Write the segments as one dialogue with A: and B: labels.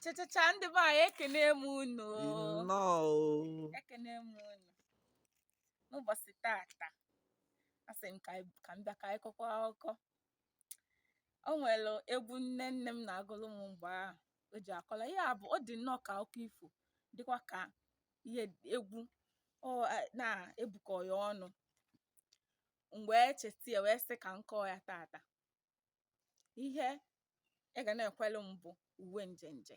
A: Chachacha ndị be anyị ekene m unu ekene m unu n'ụbọsị taata asị m ka m bịa ka anyị kọkwa akụkọ o nwere egwu nne nne m na-agụlụ m mgbe ahụ o ji akọla ya bụ ọ dị nnọọ ka akụkọ ifo dịkwa ka ihe egwu ọ na-ebukọ ya ọnụ m wee cheta ya wee sị ka m kọọ ya taata ihe ị ga na-ekwelu m bụ uwe njenje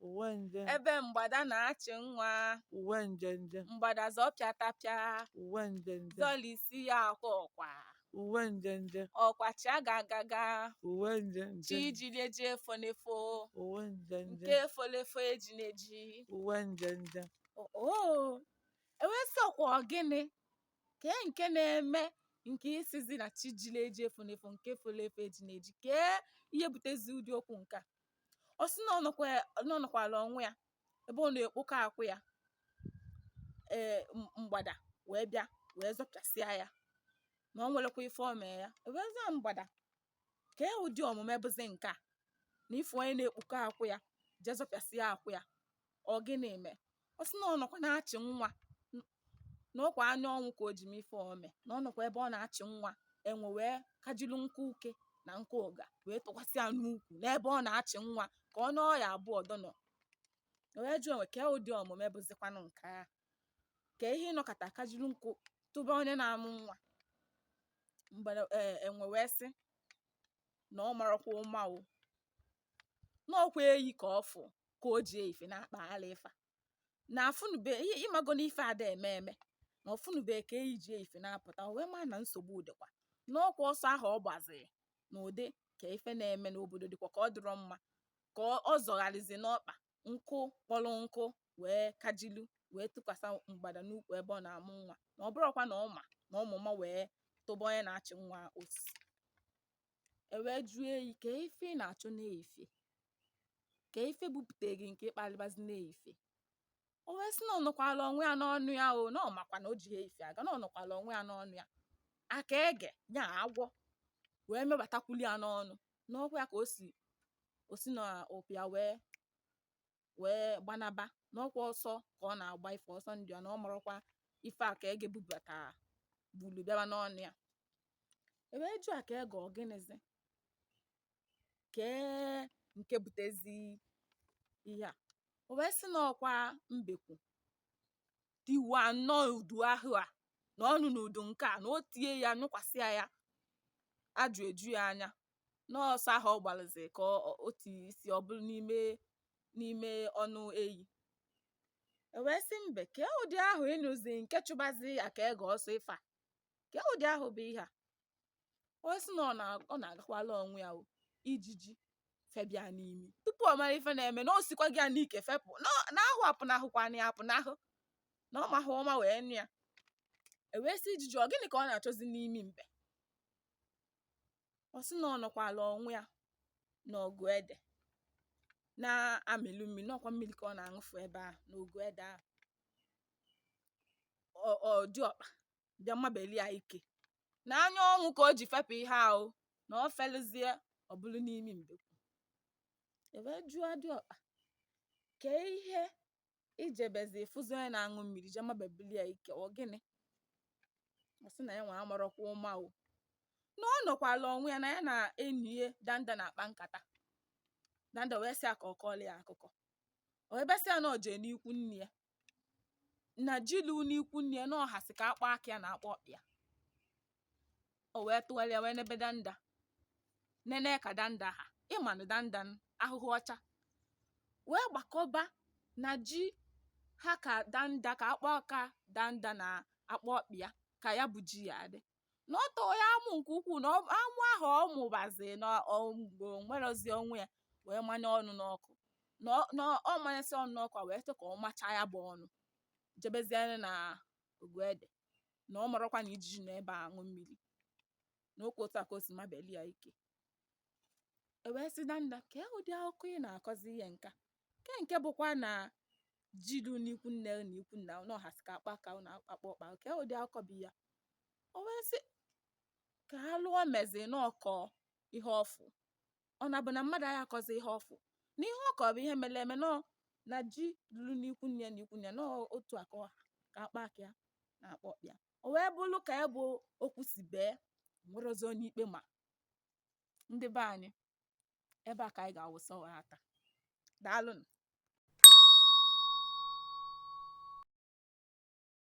A: uwe nje ebe mgbada na-achị nwa uwe nje nje mgbada zọpịa tapịa uwe nje nje zọlisịa akwa ọkwa uwe nje nje ọkwa chia gagaga uwe nje chi nje jili eji efo na-efo uwe nje nke nje folu efo eji na-eji uwe nje nje oo e wee sị ọkwa ọ gịnị kee nke na-eme nke ị sịzi na chi jili eji efo na-efo nke folo efo eji na-eji kee ihe butezi ụdị okwu nke a ọ sị na ọ nọkwa na ọ nọkwala onwe ya ebe ọ na-ekpokọ akwụ ya ee m- mgbada wee bịa wee zọpịasịa ya na o nwerekwa ife o mee ya wee zaa mgbada kee ụdị omume bụzi nke a na ị fụ onye na-ekpokọ akwụ ya jee zọpịasịa akwụ ya ọ gịnị me ọ sị na ọ nọkwa na-achị nwa na ọ kwa anya ọnwụ ka o ji me ife o me na ọ nọkwa ebe ọ na-achị nwa enwe wee kajilu nkụ uke na nkụ ụga wee tụkwasị ya n'ukwu n'ebe ọ na-achị nwa ka ọ nọọ ya abụọ dọnọ o wee jụọ enwe kee ụdị omume bụzikwanụ nke a kee ihe ị nọkata kajilu nkụ tụba onye na-amụ nwa mgbere ee enwe wee sị na ọ marọkwa ụma o na ọ kwa eyi ka ọ fụ ka o ji ife na-akpagharị ife na-afụnube ị mago na ife ada eme eme na ọ fụnube ka eyi ji ife na-apụta wee maa na nsogbu dịkwa na ọ kwa ọsọ ahụ ọ gbaziri na ụdị ka ife na-eme n'obodo dịkwa ka ọ dịrọ mma ka ọ zọgharịzi n'ọkpa nkụ kpọrọ nkụ wee kajilu wee tụkwasị mgbada n'ukwu ebe ọ na-amụ nwa na ọ bụrọkwa na ọ ma na ọ ma ụma wee tụba onye na-achị nwa osisi e wee jụọ eyi kee ife ị na-achọ n'ife kee ife bupụta gị nke ị kpalịbazi n'ife o wee sị na ọ nọkwala onwe ya n'ọnụ ya o na ọ makwa na o ji ife aga na ọ nọkwala onwe ya n'ọnụ ya aka ege ya agwọ wee mebatakwuli ya n'ọnụ na ọkwa ya ka o si o si na ụpịa wee wee gbanaba na ọkwa ọsọ ka ọ na-agba ife ọsọ ndụ ya na ọ marọkwa ife aka ege bubata bulu bịaba n'ọnụ ya ewee jụ aka ege ọ gịnịzi kee nke butezi ihe a o wee sị na ọkwa mbekwu tiwa nnọọ udu ahụ a na ọnụ n'udu nke a na o tie ya nyụkwasị ya ajụ eju ya anya na ọsọ ahụ ọ gbalụzi ka o tinye isi ọ bụrụ n'ime n'ime ọnụ eyi ewee sị mbe kee ụdị ahụ ị nyụzi nke chụbazi aka ege ọsọ ife a kee ụdị ahụ bụ ihe a o wee sị na ọ na-agakwala onwe ya ijiji feba ya n'imi tupu ọ mara ife na-eme na o sikwa gị ya n'ike fepụ na ahụ apụ na ahụkwa na ya apụ na ahụ na ọ mahụ ụma wee nyụ ya ewee sị ijiji ọ gịnị ka ọ na-achọzi n'imi mbe ọ sị na ọ nọkwala onwe ya na ogu ede na-amịlụ mmiri na ọkwa mmiri ka ọ na-aṅụfu ebe a n'ogu ede ahụ dịọkpa bịa mabeli ya ike na anya ọnwụ ka o ji fepụ ihe ahụ na ọ felụzie ọ bụrụ n'imi mbekwu ewee jụọ dịọkpa kee ihe i jebezi ịfụzi onye na-aṅụ mmiri je mabebili ya ike ọ gịnị ọ sị na ya nwa amarọkwa ụma o na ọ nọkwala onwe ya na ya na enyi ya danda na-akpa nkata danda wee sị ya ka ọ kọọla ya akụkọ o wee bee sị ya na ọ jee n'ikwu nne ya na ji lulu n'ikwu nne ya na ọ hasị ka akpa aka ya na akpa ọkpa ya o wee tụgharịa wee nebe danda nene ka danda ha ị ma na danda n- ahụhụ ọcha wee gbakọba na ji ha ka danda ka akpa aka danda na akpa ọkpa ya ka ya bụ ji ya adị na ọ tọrọ ya amụ nke ukwuu na amụ ahụ ọ mụbazi na o nwerọzi onwe ya wee manye ọnụ n'ọkụ na ọ manyesị ọnụ n'ọkụ wee sị ka ọ machaa ya bụ ọnụ jebezie na ogu ede na ọ marọkwa na ijiji nọ ebe aṅụ mmiri na ọkwa otu a ka o si mabeli ya ike ewee sị danda kee ụdị akụkọ ị na-akọzi ihe nka Kee nke bụkwa na ji lu n'ikwu nne na ikwu nna unu hasị ka akpa aka unu na akpa ọkpa kee ụdị akụkọ bụ ya o wee sị kee alụ o mezi na ọ kọ ihe ọ fụ ọ na-abụ na mmadụ anya akọzi ihe ọ fụ na ihe ọ kọ bụ ihe mere eme nọ na ji lulu n'ikwu nne na ikwu nna na otu a ka ọ ha ka akpa aka ya na akpa ọkpa ya o wee bụrụ ka ya bụ okwu si bee enwerọzi onye ikpe ma ndị be anyị ebe a ka anyị ga-awụsa ọwara taa daalụnụ